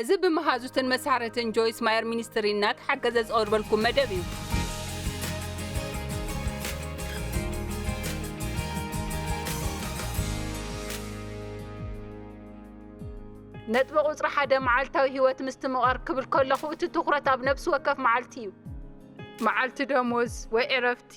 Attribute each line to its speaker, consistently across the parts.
Speaker 1: እዚ ብመሃዙትን መሳርህትን ጆይስ ማየር ሚኒስትሪ እናተሓገዘ ዝቐርበልኩም መደብ እዩ። ነጥቢ ቁጽሪ ሓደ መዓልታዊ ህይወት ምስትምቓር ክብል ከለኹ እቲ ትኹረት ኣብ ነብሲ ወከፍ መዓልቲ እዩ። መዓልቲ ደሞዝ ወይ ዕረፍቲ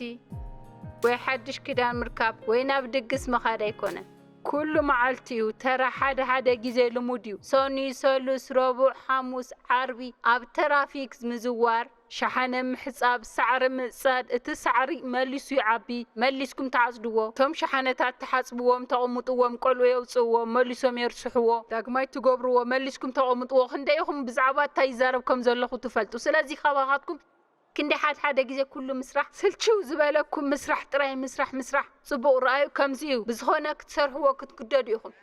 Speaker 1: ወይ ሓድሽ ክዳን ምርካብ ወይ ናብ ድግስ ምኻድ ኣይኮነን። ኩሉ መዓልቲ እዩ ተራ ሓደ ሓደ ግዜ ልሙድ እዩ ሰኑይ ሰሉስ ረቡዕ ሓሙስ ዓርቢ ኣብ ተራፊክ ምዝዋር ሸሓነ ምሕጻብ ሳዕሪ ምጽጻድ እቲ ሳዕሪ መሊሱ ይዓቢ መሊስኩም ትዓጽድዎ እቶም ሸሓነታት ትሓጽብዎም ተቅሙጥዎም ቆልዑ የውጽእዎ መሊሶም የርስሕዎ ዳግማይ ትገብርዎ መሊስኩም ተቅሙጥዎ ክንደይ ኢኩም ብዛዕባ እታይ ይዛረብ ከም ዘለኩ ትፈልጡ ስለዚ ካባካትኩም ክንደይ ሓድ ሓደ ግዜ ኩሉ ምስራሕ ስልችው ዝበለኩም ምስራሕ ጥራይ ምስራሕ ምስራሕ ጽቡቅ ርኣዩ ከምዚ እዩ ብዝኮነ ክትሰርሕዎ ክትግደዱ ኢኩም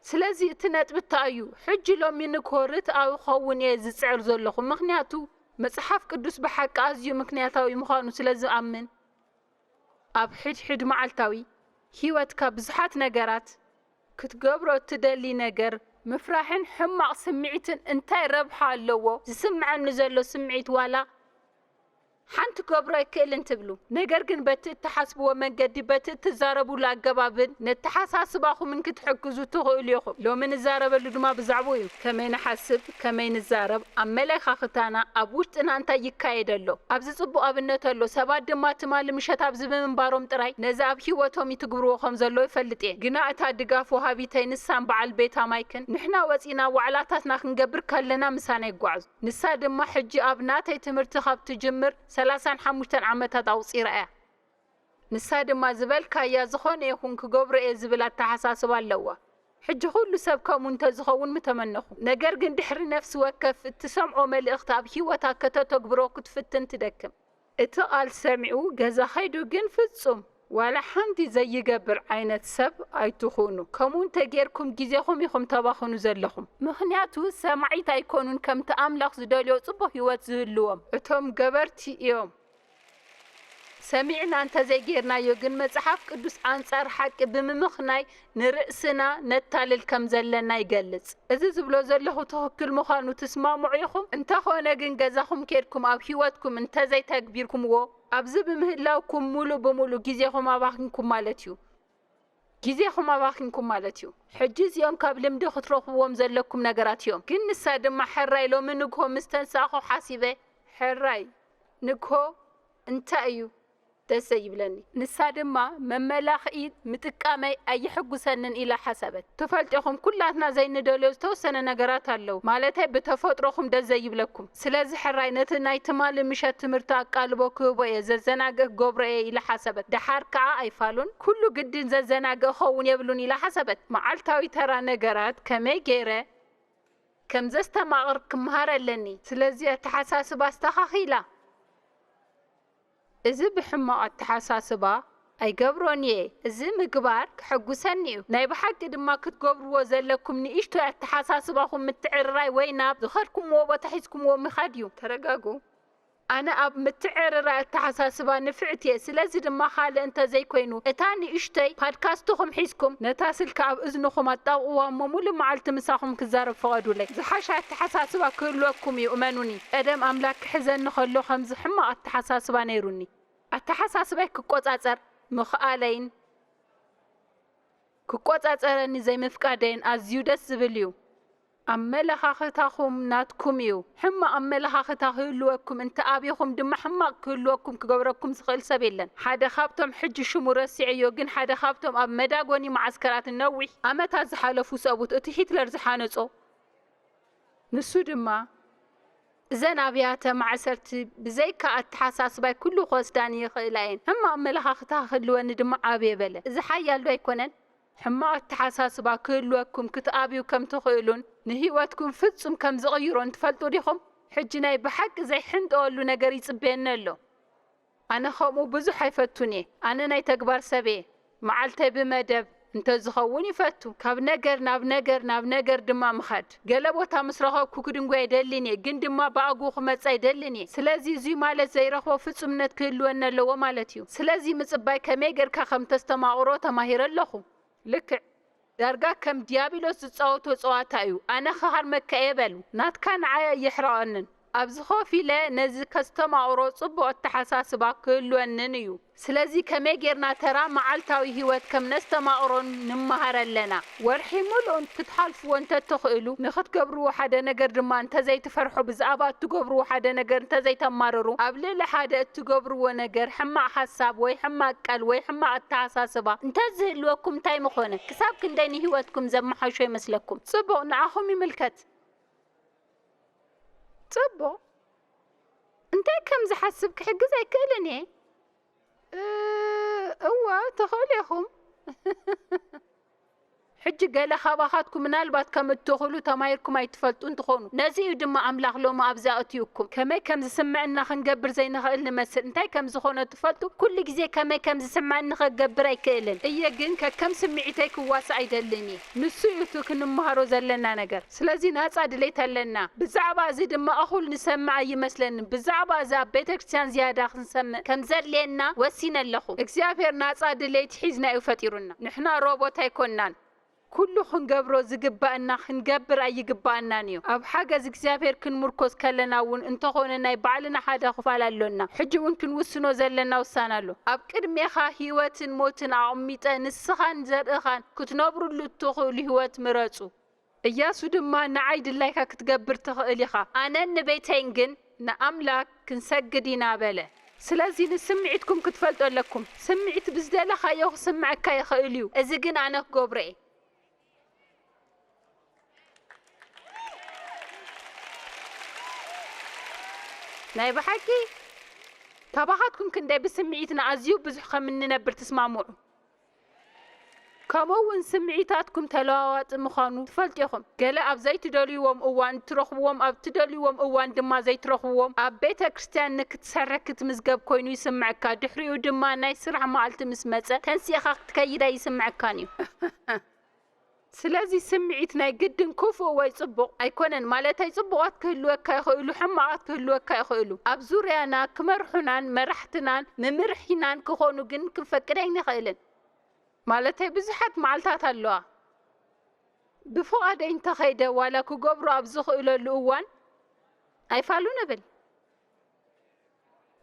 Speaker 1: ስለዚ እቲ ነጥቢ እታይ እዩ ሕጂ ሎሚንኮ ርትኣዊ ክከውን እየ ዝጽዕር ዘለኩ ምክንያቱ መጽሓፍ ቅዱስ ብሓቂ ኣዝዩ ምክንያታዊ ምኳኑ ስለ ዝኣምን ኣብ ሕድሕድ መዓልታዊ ሂወትካ ብዙሓት ነገራት ክትገብሮ እትደሊ ነገር ምፍራሕን ሕማቕ ስምዒትን እንታይ ረብሓ ኣለዎ? ዝስምዓኒ ዘሎ ስምዒት ዋላ ሓንቲ ክገብሮ ኣይክእልን ትብሉ። ነገር ግን በቲ እትሓስብዎ መንገዲ፣ በቲ እትዛረብሉ ኣገባብን ነተሓሳስባኹምን ክትሕግዙ ትኽእሉ ኢኹም። ሎሚ ንዛረበሉ ድማ ብዛዕባኡ እዩ። ከመይ ንሓስብ? ከመይ ንዛረብ፣ ኣመለካኽታና፣ ኣብ ውሽጥና እንታይ ይካየድ ኣሎ፣ ኣብዚ ጽቡቕ ኣብነት ኣሎ፣ ሰባት ድማ ትማሊ ምሸት ኣብዚ ብምንባሮም ጥራይ ነዚ ኣብ ህይወቶም ይትግብርዎ ከም ዘለዉ ይፈልጥ እየ። ግና እታ ድጋፍ ወሃቢተይ ንሳን በዓል ቤታ ማይክን ንሕና ወጺእና ዋዕላታትና ክንገብር ከለና ምሳና ይጓዓዙ። ንሳ ድማ ሕጂ ኣብ ናተይ ትምህርቲ ካብ ትጅምር ሰላሳን ሓሙሽተን ዓመታት ኣቑጺራ እያ። ንሳ ድማ ዝበልካያ ዝኾነ ይኹን ክገብሮ እየ ዝብል ኣተሓሳስባ ኣለዋ። ሕጂ ኩሉ ሰብ ከምኡ እንተዝኸውን ምተመነኹ። ነገር ግን ድሕሪ ነፍሲ ወከፍ እትሰምዖ መልእኽቲ ኣብ ህይወታ ከተተግብሮ ክትፍትን ትደክም። እቲ ቃል ሰሚዑ ገዛ ከይዱ ግን ፍጹም ዋላ ሓንቲ ዘይገብር ዓይነት ሰብ ኣይትኹኑ። ከምኡ እንተጌርኩም ግዜኹም ኢኹም ተባኽኑ ዘለኹም። ምኽንያቱ ሰማዒት ኣይኮኑን ከምቲ ኣምላኽ ዝደልዮ ጽቡቕ ህይወት ዝህልዎም። እቶም ገበርቲ እዮም። ሰሚዕና እንተዘይጌርናዮ ግን መጽሓፍ ቅዱስ ኣንጻር ሓቂ ብምምኽናይ ንርእስና ነታልል ከም ዘለና ይገልጽ። እዚ ዝብሎ ዘለኹ ትኽክል ምዃኑ ትስማምዑ ኢኹም? እንተኾነ ግን ገዛኹም ኬድኩም ኣብ ህይወትኩም እንተዘይተግቢርኩምዎ ኣብዚ ብምህላውኩም ምሉእ ብምሉእ ግዜኹም ኣባኺንኩም ማለት እዩ። ግዜኹም ኣባኺንኩም ማለት እዩ። ሕጂ እዚኦም ካብ ልምዲ ክትረኽብዎም ዘለኩም ነገራት እዮም። ግን ንሳ ድማ ሕራይ ሎሚ ንግሆ ምስ ተንሳእኩ ሓሲበ፣ ሕራይ ንግሆ እንታይ እዩ ደስ ዘይብለኒ? ንሳ ድማ መመላኽኢ ምጥቃመይ ኣየሕጉሰንን ኢላ ሓሰበት። ትፈልጡ ኢኹም ኩላትና ዘይንደልዮ ዝተወሰነ ነገራት ኣለዉ፣ ማለተይ ብተፈጥሮኹም ደስ ዘይብለኩም። ስለዚ ሕራይ ነቲ ናይ ትማሊ ምሸት ትምህርቲ ኣቃልቦ ክህቦ እየ፣ ዘዘናግእ ክገብሮ እየ ኢላ ሓሰበት። ደሓር ከኣ ኣይፋሉን፣ ኩሉ ግድን ዘዘናግእ ክኸውን የብሉን ኢላ ሓሰበት። መዓልታዊ ተራ ነገራት ከመይ ገይረ። ከም ዘስተማቕር ክመሃር ኣለኒ፣ ስለዚ ኣተሓሳስባ ኣስተኻኺላ። እዚ ብሕማቕ ኣተሓሳስባ ኣይገብሮን እየ፣ እዚ ምግባር ከሐጉሰኒ እዩ፣ ናይ ብሓቂ ድማ ክትገብርዎ ዘለኩም ንእሽቶይ ኣተሓሳስባኹም ምትዕርራይ ወይ ናብ ዝኸድኩምዎ ቦታ ሒዝኩምዎ ምኻድ እዩ። ተረጋግኡ። ኣነ ኣብ ምትዕርራይ ኣተሓሳስባ ንፍዕቲ እየ፣ ስለዚ ድማ ካልእ እንተ ዘይኮይኑ እታ ንእሽቶይ ፓድካስትኹም ሒዝኩም ነታ ስልኪ ኣብ እዝንኹም ኣጣብቕዋ እሞ ምሉእ መዓልቲ ምሳኹም ክዛረብ ፍቐዱለይ። ዝሓሸ ኣተሓሳስባ ክህልወኩም እዩ እመኑኒ። ቀደም ኣምላክ ክሕዘኒ ከሎ ከምዚ ሕማቅ ኣተሓሳስባ ነይሩኒ ኣተሓሳስባይ ክቆጻጸር ምክኣለይን ክቆጻጸረኒ ዘይምፍቃደይን ኣዝዩ ደስ ዝብል እዩ። ኣመለኻኽታኹም ናትኩም እዩ ሕማቅ ኣመለኻኽታ ክህልወኩም እንተ ኣቢኩም ድማ ሕማቅ ክህልወኩም ክገብረኩም ዝክእል ሰብ የለን ሓደ ካብቶም ሕጂ ሽሙ ረሲዐዮ ግን ሓደ ካብቶም ኣብ መዳጎኒ መዓስከራት ንነዊሕ ኣመታት ዝሓለፉ ሰብኡት እቲ ሂትለር ዝሓነጾ ንሱ ድማ፣ እዘን ኣብያተ ማዕሰርቲ ብዘይካ ኣተሓሳስባይ ኩሉ ክወስዳኒ ይኽእላ እየን፣ ሕማቕ ኣመለኻኽታ ክህልወኒ ድማ ኣብየ በለ። እዚ ሓያልዶ ኣይኮነን? ሕማቕ ኣተሓሳስባ ክህልወኩም ክትኣብዩ ከም ትኽእሉን ንህይወትኩም ፍጹም ከም ዝቕይሮን ትፈልጡ ዲኹም? ሕጂ ናይ ብሓቂ ዘይሕንጠወሉ ነገር ይጽበየኒ ኣሎ። ኣነ ከምኡ ብዙሕ ኣይፈቱን እየ ኣነ ናይ ተግባር ሰብ እየ መዓልተይ ብመደብ እንተዝኸውን ይፈቱ ካብ ነገር ናብ ነገር ናብ ነገር ድማ ምኻድ ገለ ቦታ ምስ ረኸብኩ ክድንጉይ ኣይደልን እየ ግን ድማ ብኣግኡ ክመጽእ ኣይደልን እየ ስለዚ እዙይ ማለት ዘይረኽቦ ፍጹምነት ክህልወኒ ኣለዎ ማለት እዩ ስለዚ ምጽባይ ከመይ ገርካ ከምተስተማቕሮ ተማሂረ ኣለኹ ልክዕ ዳርጋ ከም ድያብሎስ ዝጻወቶ ጸዋታ እዩ ኣነ ክሃርመካ እየ በል ናትካ ንዓይ ኣየሕርቐንን ኣብዚ ኮፍ ኢለ ነዚ ከስተማቕሮ ጽቡቕ ኣተሓሳስባ ክህልወንን እዩ ስለዚ ከመይ ጌርና ተራ መዓልታዊ ሂወት ከም ነስተማቕሮን ንመሃር ኣለና ወርሒ ምሉእ ክትሓልፍዎ እንተትኽእሉ ንኽትገብርዎ ሓደ ነገር ድማ እንተዘይትፈርሑ ብዛኣባ እትገብርዎ ሓደ ነገር እንተዘይተማርሩ ኣብ ልዕሊ ሓደ ትገብርዎ ነገር ሕማቅ ሓሳብ ወይ ሕማቅ ቀል ወይ ሕማቅ ኣተሓሳስባ እንተዝህልወኩም እንታይ ምኾነ? ክሳብ ክንደይ ንሂወትኩም ዘመሓሾ ይመስለኩም? ጽቡቅ ንዓኹም ይምልከት። ጽቡቅ እንታይ ከም ዝሓስብ ክሕግዝ ኣይክእልን እየ። እወ ትኽእሉ ኢኹም። ሕጂ ገለ ካባኻትኩም ምናልባት ከም እትኽእሉ ተማሂርኩም ኣይትፈልጡን ትዀኑ። ነዚ እዩ ድማ ኣምላኽ ሎሚ ኣብዚ ኣእትዩኩም። ከመይ ከም ዝስምዐና ኽንገብር ዘይንኽእል ንመስል። እንታይ ከም ዝዀነ ትፈልጡ? ኵሉ ግዜ ከመይ ከም ዝስምዐኒ ኽገብር ኣይክእልን እየ፣ ግን ከከም ስምዒተይ ክዋሳእ ኣይደልን እየ። ንሱ እዩ እቲ ኽንመሃሮ ዘለና ነገር። ስለዚ ናጻ ድሌት ኣለና ብዛዕባ እዚ ድማ እኹል ንሰምዕ ኣይመስለንን ብዛዕባ እዚ ኣብ ቤተክርስትያን ዝያዳ ክንሰምዕ ከም ዘድልየና ወሲነ ኣለኹ እግዚኣብሔር ናጻ ድሌት ሒዝና እዩ ፈጢሩና ንሕና ሮቦት ኣይኮናን ኩሉ ክንገብሮ ዝግባእና ክንገብር ኣይግባኣናን እዩ ኣብ ሓገዝ እግዚኣብሔር ክንሙርኮስ ከለና እውን እንተኾነ ናይ ባዕልና ሓደ ክፋል ኣሎና ሕጂ እውን ክንውስኖ ዘለና ውሳነ ኣሎ ኣብ ቅድሜኻ ህይወትን ሞትን ኣቅሚጠ ንስኻን ዘርእኻን ክትነብርሉ እትኽእሉ ህይወት ምረጹ እያሱ ድማ፣ ንዓይ ድላይካ ክትገብር ትኽእል ኢኻ፣ ኣነን ንቤተይን ግን ንኣምላክ ክንሰግድ ኢና በለ። ስለዚ ንስምዒትኩም ክትፈልጡ ኣለኩም። ስምዒት ብዝደለኻዮ ክስምዐካ ይኽእል እዩ፣ እዚ ግን ኣነ ክገብሮ እየ። ናይ ብሓቂ? ካባኻትኩም ክንደይ ብስምዒትና ኣዝዩ ብዙሕ ከም እንነብር ትስማምዑ? ከምኡ'ውን ስምዒታትኩም ተለዋዋጢ ምዃኑ ትፈልጡ ኢኹም፣ ገለ ኣብ ዘይትደልይዎም እዋን እትረኽብዎም ኣብ እትደልይዎም እዋን ድማ ዘይትረኽብዎም፣ ኣብ ቤተ ክርስትያን ንክትሰርሕ ክትምዝገብ ኮይኑ ይስምዓካ ድሕሪኡ ድማ ናይ ስራሕ መዓልቲ ምስ መጸ ተንሲእኻ ክትከይድ ኣይስምዓካን እዩ። ስለዚ ስምዒት ናይ ግድን ክፉእ ወይ ጽቡቕ ኣይኮነን ማለተይ ጽቡቓት ክህልወካ ይኽእሉ ሕማቓት ክህልወካ ይኽእሉ ኣብ ዙርያና ክመርሑናን መራሕትናን ምምርሒናን ክኾኑ ግን ክንፈቅድ ኣይንኽእልን ማለተይ ብዙሓት መዓልታት ኣለዋ ብፍቓደይ እንተኸይደ ዋላ ክገብሮ ኣብ ዝኽእለሉ እዋን ኣይፋሉን እብል።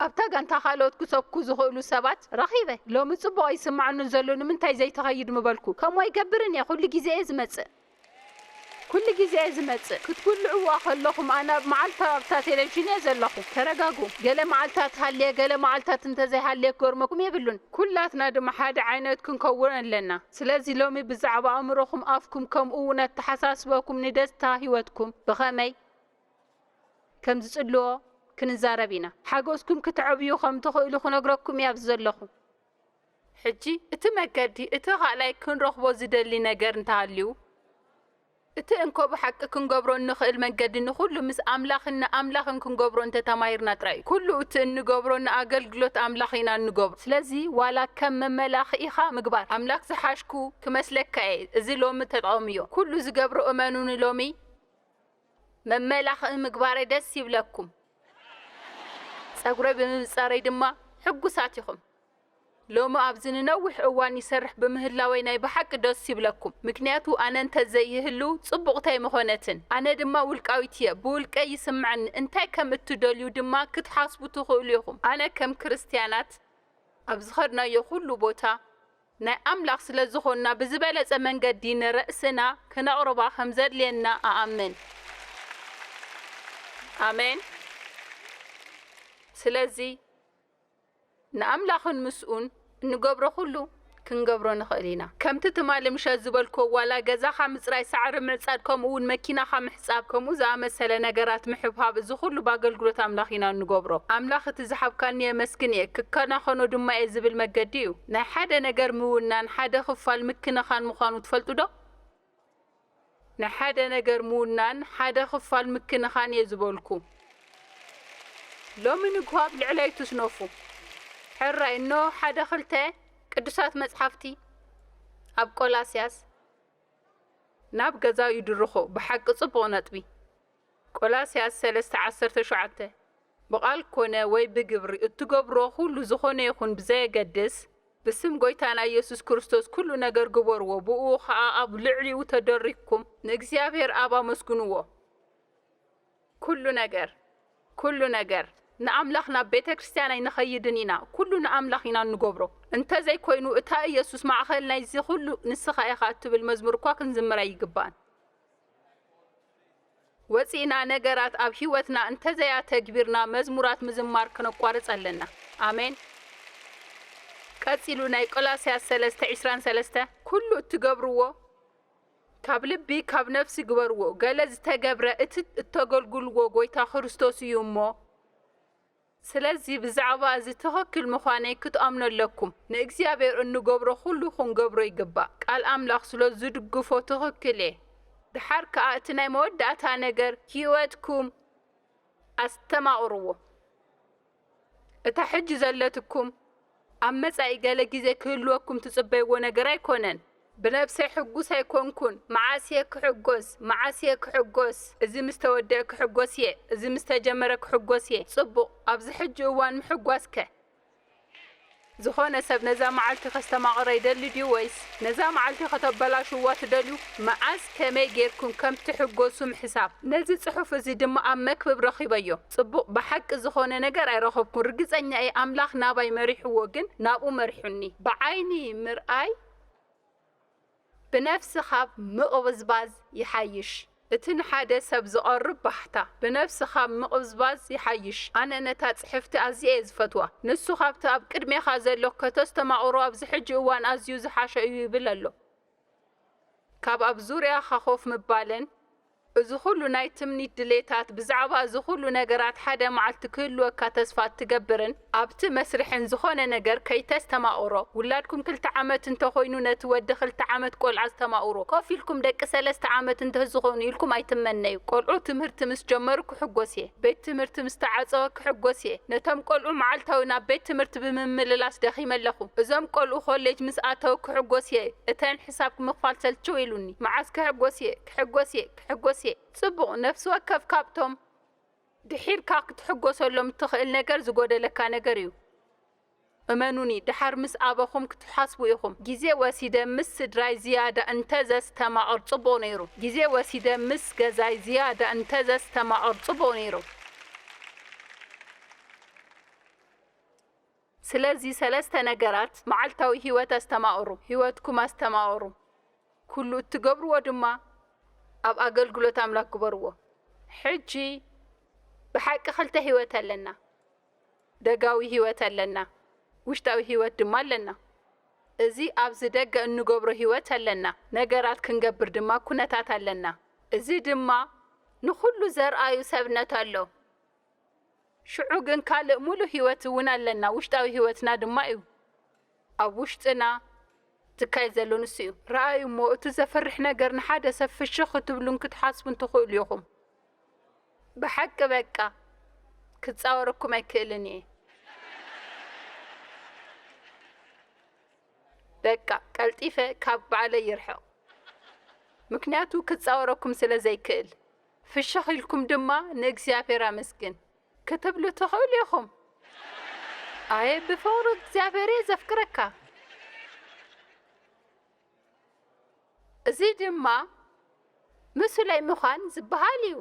Speaker 1: ኣብታ ጋንታ ካልኦት ክተኩ ዝኽእሉ ሰባት ረኺበ። ሎሚ ጽቡቕ ኣይስምዓኑን ዘሎ ንምንታይ ዘይትኸይድ ምበልኩ። ከምኡ ኣይገብርን እየ ኩሉ ግዜ እየ ዝመጽእ። ኩሉ ግዜ እየ ዝመጽእ። ክትጉልዕዋ ከለኹም ኣነ ኣብ መዓልታዊ ኣብታ ቴሌቭዥን እየ ዘለኹ። ተረጋግኡ። ገለ መዓልታት ሃልየ ገለ መዓልታት እንተዘይሃልየ ክገርመኩም የብሉን። ኩላትና ድማ ሓደ ዓይነት ክንከውን ኣለና። ስለዚ ሎሚ ብዛዕባ ኣእምሮኹም ኣፍኩም ከምኡ እውን ኣተሓሳስባኩም ንደስታ ህይወትኩም ብኸመይ። ከም ዝጽልዎ ክንዛረብ ኢና። ሓጎስኩም ክትዕብዩ ከም ትኽእሉ ክነግረኩም እየ ኣብዚ ዘለኹ። ሕጂ እቲ መገዲ እቲ ካልኣይ ክንረኽቦ ዝደሊ ነገር እንተሃልዩ እቲ እንኮ ብሓቂ ክንገብሮ እንኽእል መንገዲ ንኹሉ ምስ ኣምላኽን ንኣምላኽን ክንገብሮ እንተ ተማሂርና ጥራይ እዩ። ኩሉ እቲ እንገብሮ ንኣገልግሎት ኣምላኽ ኢና እንገብሮ። ስለዚ ዋላ ከም መመላኽኢኻ ምግባር ኣምላኽ ዝሓሽኩ ክመስለካ እየ እዚ ሎሚ ተጠቐምዮ ኩሉ ዝገብሮ እመኑኒ ሎሚ መመላኽዒ ምግባረይ ደስ ይብለኩም፣ ጸጉረይ ብምብጻረይ ድማ ሕጉሳት ኢኹም። ሎሚ ኣብዚ ንነዊሕ እዋን ይሰርሕ ብምህላወይ ናይ ብሓቂ ደስ ይብለኩም፣ ምክንያቱ ኣነ እንተ ዘይህሉ ጽቡቕቲ ኣይምኾነትን። ኣነ ድማ ውልቃዊት እየ፣ ብውልቀይ ይስምዓኒ፣ እንታይ ከም እትደልዩ ድማ ክትሓስቡ ትኽእሉ ኢኹም። ኣነ ከም ክርስትያናት ኣብ ዝኸድናዮ ኩሉ ቦታ፣ ናይ ኣምላኽ ስለ ዝኾንና ብዝበለጸ መንገዲ ንርእስና ክነቕርባ ከም ዘድልየና እኣምን። ኣሜን። ስለዚ ንኣምላኽን ምስኡን እንገብሮ ኩሉ ክንገብሮ ንኽእል ኢና። ከምቲ ትማሊ ምሸት ዝበልክዎ ዋላ ገዛኻ ምጽራይ ሳዕሪ ምዕጻድ ከምኡውን መኪናኻ ጻብ ከምኡ ዝኣመሰለ ነገራት ምሕብሃብ እዚ ኩሉ ብኣገልግሎት ኣምላኽ ኢና እንገብሮ። ኣምላኽ እቲ ዝሃብካኒ የመስግን እየ፣ ክከናኸኖ ድማ እየ ዝብል መገዲ እዩ። ናይ ሓደ ነገር ምውናን ሓደ ክፋል ምክንኻን ምዃኑ ትፈልጡ ዶ? ናይ ሓደ ነገር ምውናን ሓደ ክፋል ምክንኻን እየ ዝበልኩ። ሎሚ ንግሆ ኣብ ልዕለይ እትስነፉ ሕራይ እንሆ ሓደ ክልተ ቅዱሳት መጽሓፍቲ ኣብ ቆላስያስ። ናብ ገዛኡ ይድርኾ ብሓቂ ጽቡቕ ነጥቢ። ቆላስያስ ሰለስተ ዓሰርተ ሸውዓተ ብቓል ኮነ ወይ ብግብሪ እትገብሮ ኩሉ ዝኾነ ይኹን ብዘየገድስ ብስም ጎይታና ኢየሱስ ክርስቶስ ኩሉ ነገር ግበርዎ ብእኡ ኸኣ ኣብ ልዕሊኡ ተደሪኽኩም ንእግዚኣብሔር ኣብ ኣመስግንዎ። ኩሉ ነገር ኩሉ ነገር ንኣምላኽ ናብ ቤተክርስትያን ኣይንኸይድን ኢና ኩሉ ንኣምላኽ ኢና እንገብሮ እንተዘይ ኮይኑ እታ እየሱስ ማዕኸል ናይዚ ኩሉ ንስኻ ኢኻ እትብል መዝሙር እኳ ክንዝምር ኣይግባእን ወጺእና ነገራት ኣብ ህይወትና እንተዘይ ኣተግቢርና መዝሙራት ምዝማር ክነቋርጽ ኣለና ኣሜን ቀጺሉ ናይ ቆላስያስ ሰለስተ ዒስራን ሰለስተ ኩሉ እትገብርዎ ካብ ልቢ ካብ ነፍሲ ግበርዎ ገለ ዝተገብረ እቲ እተገልግልዎ ጎይታ ክርስቶስ እዩ እሞ ስለዚ ብዛዕባ እዚ ትኽክል ምዃነይ ክትኣምኑ ኣለኩም ንእግዚኣብሔር እንገብሮ ኩሉ ክንገብሮ ይግባእ ቃል ኣምላኽ ስለ ዝድግፎ ትኽክል እየ ድሓር ከኣ እቲ ናይ መወዳእታ ነገር ሂወትኩም ኣስተማቕርዎ። እታ ሕጂ ዘለትኩም ኣብ መጻኢ ገለ ግዜ ክህልወኩም ትጽበይዎ ነገር ኣይኮነን። ብነብሰይ ሕጉስ ኣይኮንኩን፣ መዓስ እየ ክሕጎስ፣ መዓስ እየ ክሕጎስ፣ እዚ ምስ ተወድኣ ክሕጎስ እየ፣ እዚ ምስ ተጀመረ ክሕጎስ እየ፣ ጽቡቕ፣ ኣብዚ ሕጂ እዋን ምሕጓስከ? ዝኾነ ሰብ ነዛ መዓልቲ ከስተማቕራ ይደሊ ድዩ ወይስ ነዛ መዓልቲ ከተበላሽዉዋ ትደልዩ? መዓዝ ከመይ ጌርኩም ከም ትሕጎሱም ሕሳብ። ነዚ ጽሑፍ እዚ ድማ ኣብ መክብብ ረኺበዮ። ጽቡቕ ብሓቂ ዝኾነ ነገር ኣይረኸብኩን ርግጸኛ እየ ኣምላኽ ናባይ መሪሕዎ ግን ናብኡ መሪሑኒ። ብዓይኒ ምርኣይ። ብነፍሲ ኻብ ምቕብዝባዝ ይሓይሽ። እቲ ንሓደ ሰብ ዚቐርብ ባህታ፣ ብነፍሲ ኻብ ምቕብዝባዝ ይሓይሽ። ኣነ ነታ ጽሕፍቲ ኣዝየ እየ ዝፈትዋ። ንሱ ኻብቲ ኣብ ቅድሜኻ ዘሎ ኸተስተማቕሮ ኣብዚ ሕጂ እዋን ኣዝዩ ዝሓሸ እዩ ይብል ኣሎ። ካብ ኣብ ዙርያኻ ኾፍ ምባልን፣ እዚ ኹሉ ናይ ትምኒት ድሌታት፣ ብዛዕባ እዚ ኹሉ ነገራት ሓደ መዓልቲ ክህልወካ ተስፋ እትገብርን ኣብቲ መስርሕን ዝኾነ ነገር ከይተስተማቕሮ፣ ውላድኩም ክልተ ዓመት እንተኾይኑ ነቲ ወዲ ክልተ ዓመት ቆልዓ ዝተማቕሩ፣ ኮፍ ኢልኩም ደቂ ሰለስተ ዓመት እንተዝኾኑ ኢልኩም ኣይትመነዩ። ቆልዑ ትምህርቲ ምስ ጀመሩ ክሕጎስ እየ፣ ቤት ትምህርቲ ምስ ተዓጸወ ክሕጎስ እየ፣ ነቶም ቆልዑ መዓልታዊ ናብ ቤት ትምህርቲ ብምምልላስ ደኺመ ኣለኹ፣ እዞም ቆልዑ ኮሌጅ ምስ ኣተው ክሕጎስ እየ፣ እተን ሕሳብ ምኽፋል ሰልችው ኢሉኒ፣ መዓስ ክሕጎስ እየ? ክሕጎስ እየ ክሕጎስ እየ። ጽቡቕ፣ ነፍሲ ወከፍ ካብቶም ድሒርካ ክትሕጎሰሎም እትኽእል ነገር ዝጎደለካ ነገር እዩ። እመኑኒ፣ ድሓር ምስ ኣበኹም ክትሓስቡ ኢኹም፣ ግዜ ወሲደ ምስ ስድራይ ዝያዳ እንተ ዘስተማቕር ጽቡቕ ነይሩ፣ ግዜ ወሲደ ምስ ገዛይ ዝያዳ እንተ ዘስተማቕር ጽቡቕ ነይሩ። ስለዚ ሰለስተ ነገራት መዓልታዊ ህይወት ኣስተማቕሩ፣ ህይወትኩም ኣስተማቕሩ፣ ኩሉ እትገብርዎ ድማ ኣብ ኣገልግሎት ኣምላኽ ግበርዎ። ሕጂ ብሓቂ ክልተ ህይወት ኣለና፣ ደጋዊ ህይወት ኣለና፣ ውሽጣዊ ህይወት ድማ ኣለና። እዚ ኣብዚ ደገ እንገብሮ ህይወት ኣለና፣ ነገራት ክንገብር ድማ ኩነታት ኣለና። እዚ ድማ ንኹሉ ዘርኣዩ ሰብነት ኣሎ። ሽዑ ግን ካልእ ምሉእ ህይወት እውን ኣለና፣ ውሽጣዊ ህይወትና ድማ እዩ። ኣብ ውሽጥና ዝካየድ ዘሎ ንሱ እዩ። ርኣዩ እሞ እቲ ዘፍርሕ ነገር ንሓደ ሰብ ፍሽኽ ክትብሉን ክትሓስቡን ትኽእሉ ኢኹም። ብሓቂ በቃ ክጻወረኩም ኣይክእልን እየ። በቃ ቀልጢፈ ካብ ባዕለይ ይርሕቕ፣ ምክንያቱ ክጻወረኩም ስለ ዘይክእል። ፍሽኽ ኢልኩም ድማ ንእግዚኣብሔር ኣመስግን ክትብሉ ትኽእሉ ኢኹም። ኣየ ብፍቕሩ እግዚኣብሔር እየ ዘፍቅረካ። እዚ ድማ ምሱላይ ምዃን ዝበሃል እዩ።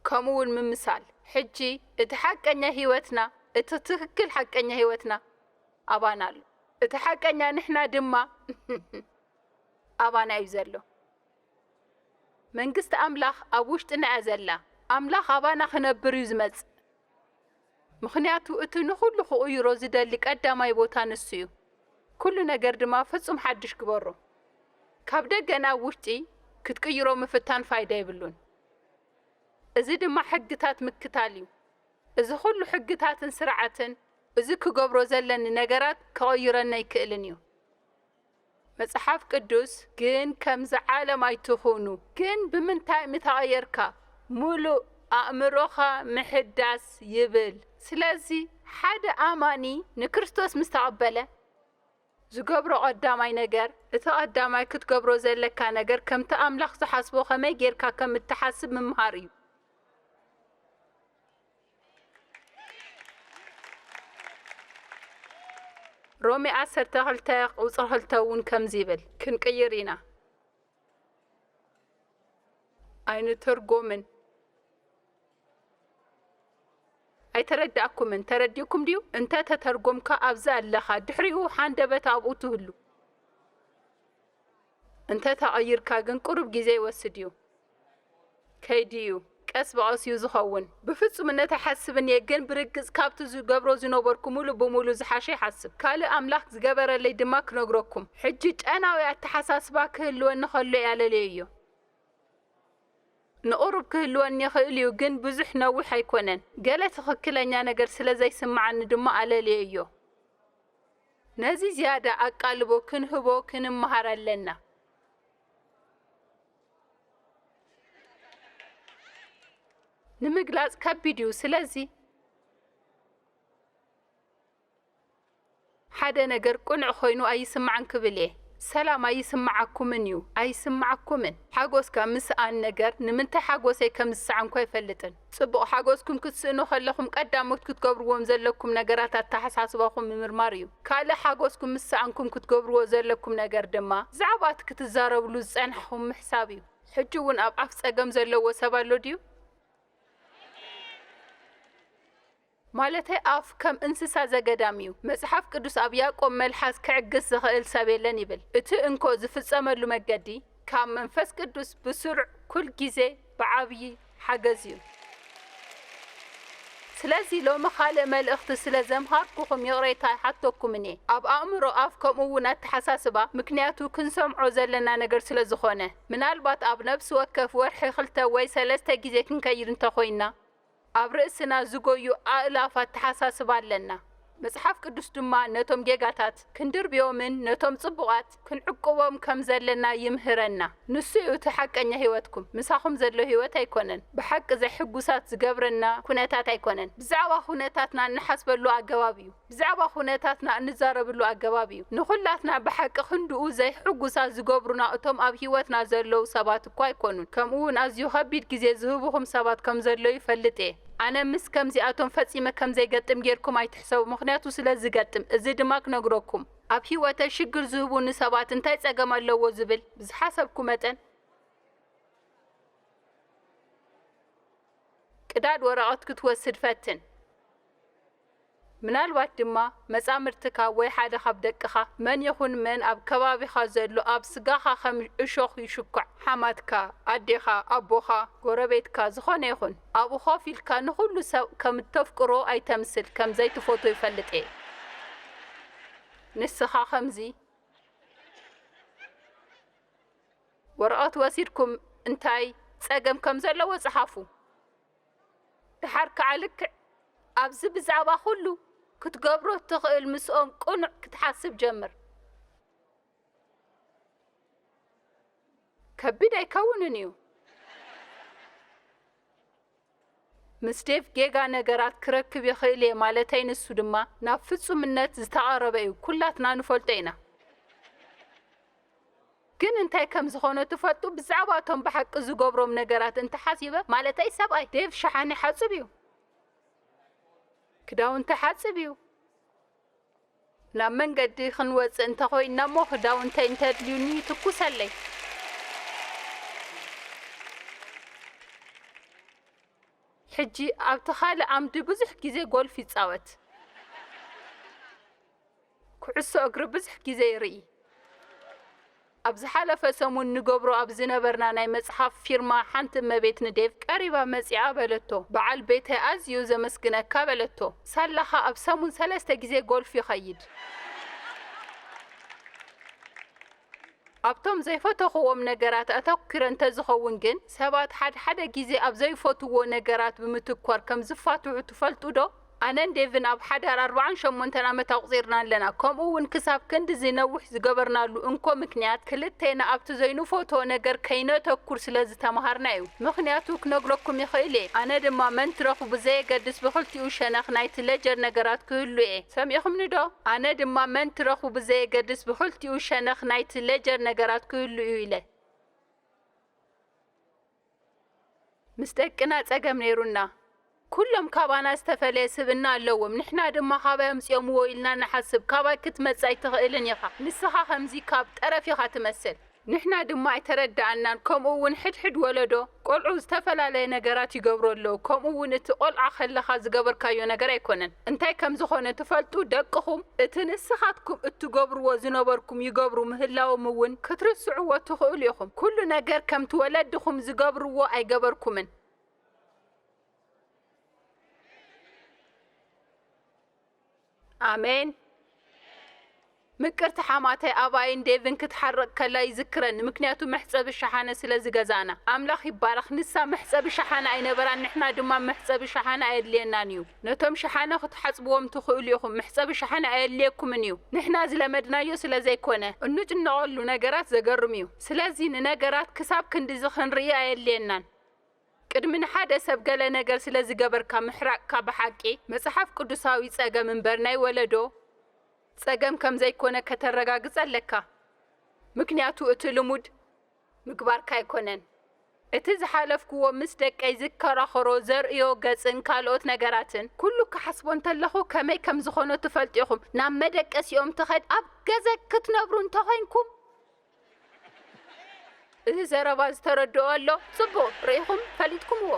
Speaker 1: ከምኡ እውን ምምሳል። ሕጂ እቲ ሓቀኛ ሕይወትና፣ እቲ ትክክል ሓቀኛ ሕይወትና ኣባና ኣሎ። እቲ ሓቀኛ ንሕና ድማ ኣባና እዩ ዘሎ። መንግስቲ ኣምላኽ ኣብ ውሽጥና እያ ዘላ። ኣምላኽ ኣባና ክነብር እዩ ዝመጽእ፣ ምኽንያቱ እቲ ንኹሉ ክቕይሮ ዝደሊ ቀዳማይ ቦታ ንሱ እዩ። ኩሉ ነገር ድማ ፍጹም ሓድሽ ግበሮ። ካብ ደገ ናብ ውሽጢ ክትቅይሮ ምፍታን ፋይዳ የብሉን። እዚ ድማ ሕግታት ምክታል እዩ። እዚ ኩሉ ሕግታትን ስርዓትን እዚ ክገብሮ ዘለኒ ነገራት ከቕይረኒ ኣይክእልን እዩ። መጽሓፍ ቅዱስ ግን ከምዚ ዓለም ኣይትኹኑ ግን ብምንታይ ምተቐየርካ ምሉእ ኣእምሮኻ ምሕዳስ ይብል ስለዚ ሓደ ኣማኒ ንክርስቶስ ምስ ተቐበለ ዝገብሮ ቀዳማይ ነገር እቲ ቀዳማይ ክትገብሮ ዘለካ ነገር ከምቲ ኣምላኽ ዝሓስቦ ከመይ ጌርካ ከም እትሓስብ ምምሃር እዩ። ሮሜ ዓሰርተ ክልተ ቁጽሪ ክልተ እውን ከምዚ ይብል ክንቅይር ኢና ኣይንትርጎምን ኣይተረዳእኩምን ተረዲእኩም ድዩ እንተ ተተርጎምካ ኣብዚ ኣለኻ ድሕሪኡ ሓንደበት ኣብኡ ትህሉ እንተ ተቐይርካ ግን ቁሩብ ግዜ ይወስድ እዩ ከይዲ እዩ ቀስ ብቐስ እዩ ዝኸውን። ብፍጹምነት ኣይሓስብን እየ ግን ብርግጽ ካብቲ ዝገብሮ ዝነበርኩ ሙሉእ ብሙሉእ ዝሓሸ ይሓስብ። ካልእ ኣምላክ ዝገበረለይ ድማ ክነግረኩም። ሕጂ ጨናዊ ኣተሓሳስባ ክህልወኒ ከሎ ያለልየዮ። ንቑሩብ ክህልወኒ ይኽእል እዩ ግን ብዙሕ ነዊሕ ኣይኮነን። ገለ ትኽክለኛ ነገር ስለ ዘይስምዓኒ ድማ ኣለልየዮ። ነዚ ዝያዳ ኣቃልቦ ክንህቦ ክንመሃር ኣለና። ንምግላጽ ከቢድ እዩ። ስለዚ ሓደ ነገር ቅኑዕ ኮይኑ ኣይስማዕን ክብል እየ። ሰላም ኣይስምዓኩምን እዩ። ኣይስምዓኩምን። ሓጎስካ ምስኣን ነገር ንምንታይ ሓጎሰይ ከም ዝሰኣንኩ ኣይፈልጥን። ጽቡቕ ሓጎስኩም ክትስእኑ ከለኹም ቀዳሞት ክትገብርዎም ዘለኩም ነገራት ኣተሓሳስባኹም ምምርማር እዩ። ካልእ ሓጎስኩም ምስ ሰኣንኩም ክትገብርዎ ዘለኩም ነገር ድማ ብዛዕባ እቲ ክትዛረብሉ ዝጸናሕኹም ምሕሳብ እዩ። ሕጂ እውን ኣብ ኣፍ ጸገም ዘለዎ ሰብ ኣሎ ድዩ? ማለተይ ኣፍ ከም እንስሳ ዘገዳም እዩ። መጽሓፍ ቅዱስ ኣብ ያእቆብ መልሓስ ክዕግስ ዝኽእል ሰብ የለን ይብል። እቲ እንኮ ዝፍጸመሉ መገዲ ካብ መንፈስ ቅዱስ ብስሩዕ ኩል ግዜ ብዓብዪ ሓገዝ እዩ። ስለዚ ሎሚ ካልእ መልእኽቲ ስለ ዘምሃርኩኹም ይቕሬታ ኣይሓተኩምን እየ። ኣብ ኣእምሮ ኣፍ ከምኡ እውን ኣተሓሳስባ ምክንያቱ ክንሰምዖ ዘለና ነገር ስለ ዝኾነ። ምናልባት ኣብ ነብሲ ወከፍ ወርሒ ክልተ ወይ ሰለስተ ግዜ ክንከይድ እንተ ኾይንና። ኣብ ርእስና ዚጐዩ ኣእላፍ ኣተሓሳስባ ኣለና። መጽሓፍ ቅዱስ ድማ ነቶም ጌጋታት ክንድርብዮምን ነቶም ጽቡቓት ክንዕቍቦም ከም ዘለና ይምህረና። ንሱ እዩ እቲ ሓቀኛ ህይወትኩም፣ ምሳኹም ዘሎ ህይወት ኣይኰነን። ብሓቂ ዘሕጕሳት ዚገብረና ኵነታት ኣይኰነን፣ ብዛዕባ ዅነታትና እንሓስበሉ ኣገባብ እዩ። ብዛዕባ ኩነታትና እንዛረብሉ ኣገባብ እዩ። ንኹላትና ብሓቂ ክንድኡ ዘይሕጉሳት ዝገብሩና እቶም ኣብ ህይወትና ዘለዉ ሰባት እኳ ኣይኮኑን። ከምኡውን ኣዝዩ ከቢድ ግዜ ዝህቡኹም ሰባት ከም ዘለዉ ይፈልጥ እየ። ኣነ ምስ ከምዚኣቶም ፈጺመ ከም ዘይገጥም ጌርኩም ኣይትሕሰቡ፣ ምኽንያቱ ስለ ዝገጥም። እዚ ድማ ክነግረኩም። ኣብ ህይወተይ ሽግር ዝህቡኒ ሰባት እንታይ ጸገም ኣለዎ ዝብል ብዝሓሰብኩ መጠን፣ ቅዳድ ወረቐት ክትወስድ ፈትን። ምናልባት ድማ መጻምድትካ ወይ ሓደ ኻብ ደቅኻ፣ መን ይኹን መን ኣብ ከባቢኻ ዘሎ ኣብ ስጋኻ ኸም እሾኽ ይሽኳዕ፣ ሓማትካ፣ ኣዴኻ፣ ኣቦኻ፣ ጎረቤትካ፣ ዝዀነ ይኹን፣ ኣብኡ ኾፍ ኢልካ ንዅሉ ሰብ ከም እተፍቅሮ ኣይተምስል፣ ከም ዘይትፈትዎ ይፈልጥ እየ። ንስኻ ኸምዚ። ወረቐት ወሲድኩም እንታይ ጸገም ከም ዘለዎ ጽሓፉ። ደሓር ከኣ ልክዕ ኣብዚ ብዛዕባ ኩሉ ክትገብሮ እትኽእል ምስኦም ቅኑዕ ክትሓስብ ጀምር። ከቢድ ኣይከውንን እዩ። ምስ ዴቭ ጌጋ ነገራት ክረክብ ይኽእል እየ ማለተይ ንሱ ድማ ናብ ፍጹምነት ዝተቐረበ እዩ ኩላትና ንፈልጦ ኢና። ግን እንታይ ከም ዝኾነ ትፈልጡ ብዛዕባ እቶም ብሓቂ ዝገብሮም ነገራት እንተ ሓሲበ ማለተይ ሰብኣይ ዴቭ ሸሓኒ ይሓጽብ እዩ ክዳውንቲ ይሓጽብ እዩ ናብ መንገዲ ክንወጽእ እንተ ኮይና እሞ ክዳውንተይ እንተ ኣድልዩኒ ይትኩሰለይ ሕጂ ኣብቲ ካልእ ዓምዲ ብዙሕ ግዜ ጎልፍ ይጻወት። ኩዕሶ እግሪ ብዙሕ ግዜ ይርኢ። ኣብ ዝሓለፈ ሰሙን ንገብሮ ኣብ ዝነበርና ናይ መጽሓፍ ፊርማ ሓንቲ እመቤት ንዴቭ ቀሪባ መጺኣ በለቶ፣ በዓል ቤተይ ኣዝዩ ዘመስግነካ በለቶ። ሳላኻ ኣብ ሰሙን ሰለስተ ግዜ ጎልፍ ይኸይድ። ኣብቶም ዘይፈተኹዎም ነገራት ኣተኲረ እንተዝኸውን ግን፣ ሰባት ሓድሓደ ግዜ ኣብ ዘይፈትዉዎ ነገራት ብምትኳር ከም ዝፋትሑ ትፈልጡዶ? ኣነን ዴቭን ኣብ ሓዳር ኣርብዓን ሸሞንተን ዓመት ኣቝጺርና ኣለና፣ ከምኡውን ክሳብ ክንድዚ ነዊሕ ዝገበርናሉ እንኮ ምኽንያት ክልቴና ኣብቲ ዘይንፈትዎ ነገር ከይነተኵር ስለ ዝተማሃርና ኢዩ። ምኽንያቱ ክነግረኩም ይኽእል ኢየ፣ ኣነ ድማ መን ትረኽቡ ብዘየገድስ ብኽልቲኡ ሸነኽ ናይቲ ሌጀር ነገራት ክህሉ ኢየ። ሰሚዕኹምኒዶ? ኣነ ድማ መን ትረኽቡ ብዘየገድስ ብኽልቲኡ። ክልቲኡ ሸነኽ ናይቲ ለጀር ነገራት ክህሉ እዩ ኢለ። ምስ ደቅና ጸገም ነይሩና። ኩሎም ካባና ዝተፈለየ ስብእና ኣለዎም፣ ንሕና ድማ ካባይ ኣምጺኦምዎ ኢልና ንሓስብ። ካባይ ክትመጽእ ኣይትኽእልን ኢኻ፣ ንስኻ ከምዚ ካብ ጠረፍ ኢኻ ትመስል። ንሕና ድማ ኣይተረድኣናን፣ ከምኡ'ውን ሕድሕድ ወለዶ። ቆልዑ ዝተፈላለየ ነገራት ይገብሩ ኣለዉ ከምኡ እውን እቲ ቆልዓ ከለኻ ዝገበርካዮ ነገር ኣይኮነን እንታይ ከም ዝኾነ ትፈልጡ ደቅኹም እቲ ንስኻትኩም እትገብርዎ ዝነበርኩም ይገብሩ ምህላዎም እውን ክትርስዕዎ ትኽእሉ ኢኹም ኩሉ ነገር ከምቲ ወለድኹም ዝገብርዎ ኣይገበርኩምን ኣሜን ምቅርቲ ሓማተይ ኣባይን ዴቭን ክትሓርቅ ከላ ይዝክረኒ ምክንያቱ መሕጸቢ ሸሓነ ስለ ዝገዛእና ኣምላኽ ይባረኽ ንሳ መሕጸቢ ሸሓነ ኣይነበራን ንሕና ድማ መሕጸቢ ሸሓነ ኣየድልየናን እዩ ነቶም ሸሓነ ክትሓጽብዎም ትኽእሉ ኢኹም መሕጸቢ ሸሓነ ኣየድልየኩምን እዩ ንሕና ዝለመድናዮ ስለ ዘይኮነ እንጭነቀሉ ነገራት ዘገርም እዩ ስለዚ ንነገራት ክሳብ ክንድዚ ክንርኢ ኣየድልየናን ቅድሚ ንሓደ ሰብ ገለ ነገር ስለ ዝገበርካ ምሕራቅካ ብሓቂ መጽሓፍ ቅዱሳዊ ጸገም እምበር ናይ ወለዶ ጸገም ከም ዘይኮነ ከተረጋግጽ ኣለካ ምክንያቱ እቲ ልሙድ ምግባርካ ኣይኮነን እቲ ዝሓለፍክዎ ምስ ደቀይ ዝከራኸሮ ዘርእዮ ገጽን ካልኦት ነገራትን ኩሉ ክሓስቦ እንተለኹ ከመይ ከም ዝኾኖ ትፈልጡ ኢኹም ናብ መደቀሲኦም ትኸድ ኣብ ገዘ ክትነብሩ እንተኾይንኩም እዚ ዘረባ ዝተረድኦ ኣሎ? ጽቡቕ ርኢኹም ፈሊጥኩምዎ።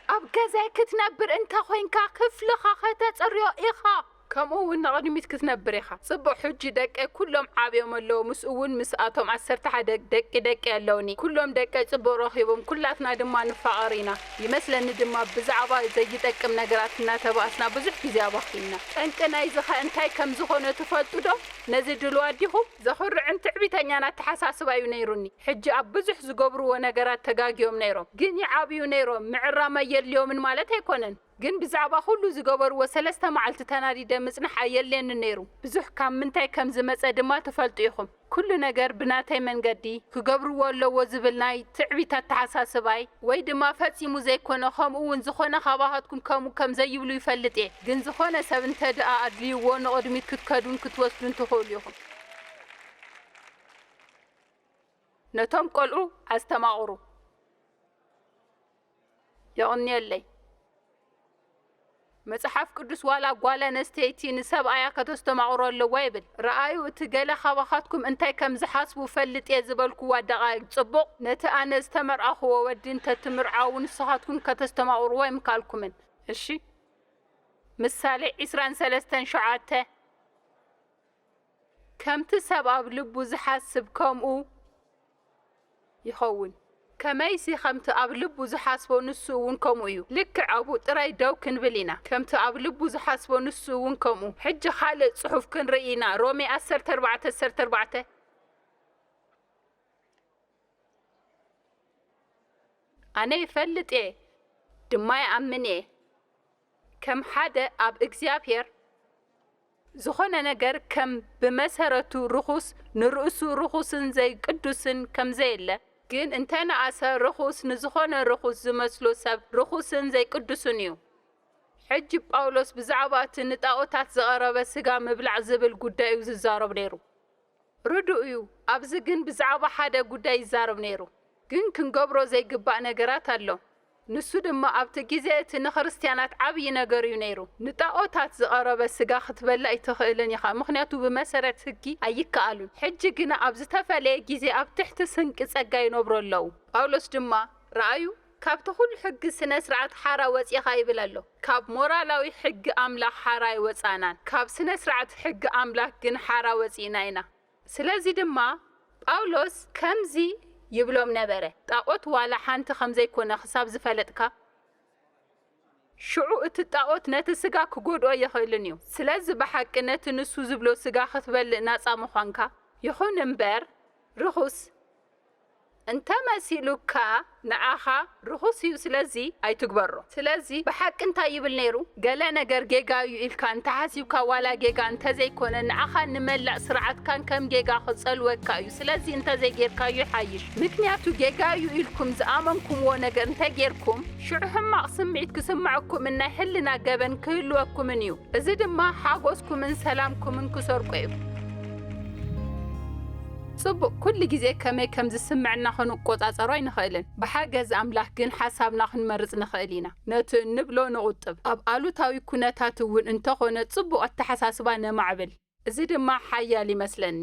Speaker 1: ኣብ ገዛይ ክትነብር እንተ ዄንካ፣ ክፍልኻ ኸተጽርዮ ኢኻ። ከምኡውን ንቕድሚት ክትነብር ኢኻ። ጽቡቕ፣ ሕጂ ደቀይ ኵሎም ዓብዮም ኣለዉ፣ ምስኡውን ምስኣቶም ዓሰርተ ሓደ ደቂ ደቀይ ኣለዉኒ። ኵሎም ደቀይ ጽቡቕ ረኺቦም፣ ኵላትና ድማ ንፋቐር ኢና። ይመስለኒ ድማ ብዛዕባ ዘይጠቅም ነገራት እናተባእስና ብዙሕ ግዜ ኣባኺንና። ጠንቂ ናይዚኸ እንታይ ከም ዝዀነ ትፈልጡዶ? ነዚ ድሉዋት ዲኹም? ዘኹርዕን ትዕቢተኛን ኣተሓሳስባ ዩ ነይሩኒ ሕጂ ኣብ ብዙሕ ዝገብርዎ ነገራት ተጋግዮም ነይሮም ግን ይዓብዩ ነይሮም ምዕራም ኣየድልዮምን ማለት ኣይኮነን ግን ብዛዕባ ኩሉ ዝገበርዎ ሰለስተ መዓልቲ ተናዲደ ምጽናሕ ኣየድልየንን ነይሩ ብዙሕ ካብ ምንታይ ከም ዝመጸ ድማ ትፈልጡ ኢኹም ኩሉ ነገር ብናተይ መንገዲ ክገብርዎ ኣለዎ ዝብል ናይ ትዕቢት ኣተሓሳስባይ ወይ ድማ ፈጺሙ ዘይኮነ ከምኡ ውን ዝኾነ ካባሃትኩም ከምኡ ከም ዘይብሉ ይፈልጥ እየ። ግን ዝኾነ ሰብ እንተድኣ ኣድልዩዎ ንቕድሚት ክትከዱን ክትወስዱን ትኽእሉ ኢኹም። ነቶም ቆልዑ ኣስተማቕሩ። የቕንየለይ። መጽሓፍ ቅዱስ ዋላ ጓል ኣነስተይቲ ንሰብኣያ ከተስተማቕሮ ኣለዋ ይብል። ርኣዩ እቲ ገለ ካባኻትኩም እንታይ ከም ዝሓስቡ እፈልጥ እየ ዝበልኩዋ ደቓይቕ ጽቡቕ ነቲ ኣነ ዝተመርዓኹዎ ወዲ እንተትምርዓዉ ንስኻትኩም ከተስተማቕሩዎ ኣይምከኣልኩምን። እሺ ምሳሌ ዕስራን ሰለስተን ሸውዓተ ከምቲ ሰብ ኣብ ልቡ ዚሓስብ ከምኡ ይኸውን። ከመይሲ ከምቲ ኣብ ልቡ ዚሓስቦ ንሱ እውን ከምኡ እዩ። ልክዕ ኣብኡ ጥራይ ደው ክንብል ኢና፣ ከምቲ ኣብ ልቡ ዚሓስቦ ንሱ እውን ከምኡ። ሕጂ ኻልእ ጽሑፍ ክንርኢ ኢና፣ ሮሜ ዓሰርተ ኣርባዕተ ዓሰርተ ኣርባዕተ። ኣነ እፈልጥ እየ ድማ ይኣምን እየ ከም ሓደ ኣብ እግዚኣብሔር ዝኾነ ነገር ከም ብመሰረቱ ርኹስ ንርእሱ ርኹስን ዘይቅዱስን ከም ዘየለ፣ ግን እንተ ነኣሰ ርኹስ ንዝኾነ ርኹስ ዝመስሎ ሰብ ርኹስን ዘይቅዱስን እዩ። ሕጂ ጳውሎስ ብዛዕባ እቲ ንጣኦታት ዝቐረበ ስጋ ምብላዕ ዝብል ጉዳይ እዩ ዝዛረብ ነይሩ። ርዱእ እዩ ኣብዚ ግን ብዛዕባ ሓደ ጉዳይ ይዛረብ ነይሩ ግን ክንገብሮ ዘይግባእ ነገራት ኣሎ ንሱ ድማ ኣብቲ ግዜ እቲ ንክርስትያናት ዓብዪ ነገር እዩ ነይሩ ንጣኦታት ዝቐረበ ስጋ ክትበሊ ኣይትኽእልን ኢኻ ምኽንያቱ ብመሰረት ህጊ ኣይከኣሉን ሕጂ ግና ኣብ ዝተፈለየ ግዜ ኣብ ትሕቲ ስንቂ ጸጋ ይነብሩ ኣለዉ ጳውሎስ ድማ ረኣዩ ካብቲ ኩሉ ሕጊ ስነ ስርዓት ሓራ ወጺእኻ ይብል ኣሎ። ካብ ሞራላዊ ሕጊ ኣምላኽ ሓራ ኣይወጻእናን፣ ካብ ስነ ስርዓት ሕጊ ኣምላኽ ግን ሓራ ወጺእና ኢና። ስለዚ ድማ ጳውሎስ ከምዚ ይብሎም ነበረ፣ ጣኦት ዋላ ሓንቲ ከም ዘይኮነ ክሳብ ዝፈለጥካ፣ ሽዑ እቲ ጣኦት ነቲ ስጋ ክጎድኦ ኣይኽእልን እዩ። ስለዚ ብሓቂ ነቲ ንሱ ዝብሎ ስጋ ክትበልእ ናጻ ምዃንካ፣ ይኹን እምበር ርኹስ፣ እንተ መሲሉካ ንዓኻ ርኹስ እዩ ስለዚ ኣይትግበሮ። ስለዚ ብሓቂ እንታይ ይብል ነይሩ? ገለ ነገር ጌጋ እዩ ኢልካ እንተ ሓሲብካ ዋላ ጌጋ እንተ ዘይኮነ ንዓኻን ንመላእ ስርዓትካን ከም ጌጋ ክጸልወካ እዩ ስለዚ እንተ ዘይጌርካዮ ይሓይሽ ምክንያቱ ጌጋ እዩ ኢልኩም ዝኣመንኩምዎ ነገር እንተ ጌርኩም ሽዑ ሕማቕ ስምዒት ክስምዐኩምን ናይ ሕልና ገበን ክህልወኩምን እዩ። እዚ ድማ ሓጎስኩምን ሰላምኩምን ክሰርቆ እዩ። ጽቡቕ፣ ኩሉ ግዜ ከመይ ከም ዝስምዕና ኽንቈጻጸሮ ኣይንኽእልን። ብሓገዝ ኣምላኽ ግን ሓሳብና ኽንመርጽ ንኽእል ኢና። ነቲ እንብሎ ንቝጥብ፣ ኣብ ኣሉታዊ ኵነታት እውን እንተ ዀነ ጽቡቕ ኣተሓሳስባ ነማዕብል። እዚ ድማ ሓያል ይመስለኒ።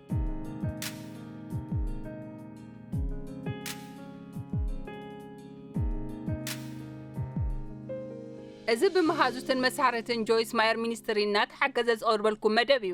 Speaker 1: እዚ ብመሃዙትን መሳርሕትን ጆይስ ማየር ሚኒስትሪ እናተሓገዘ ዝቐርበልኩም መደብ እዩ።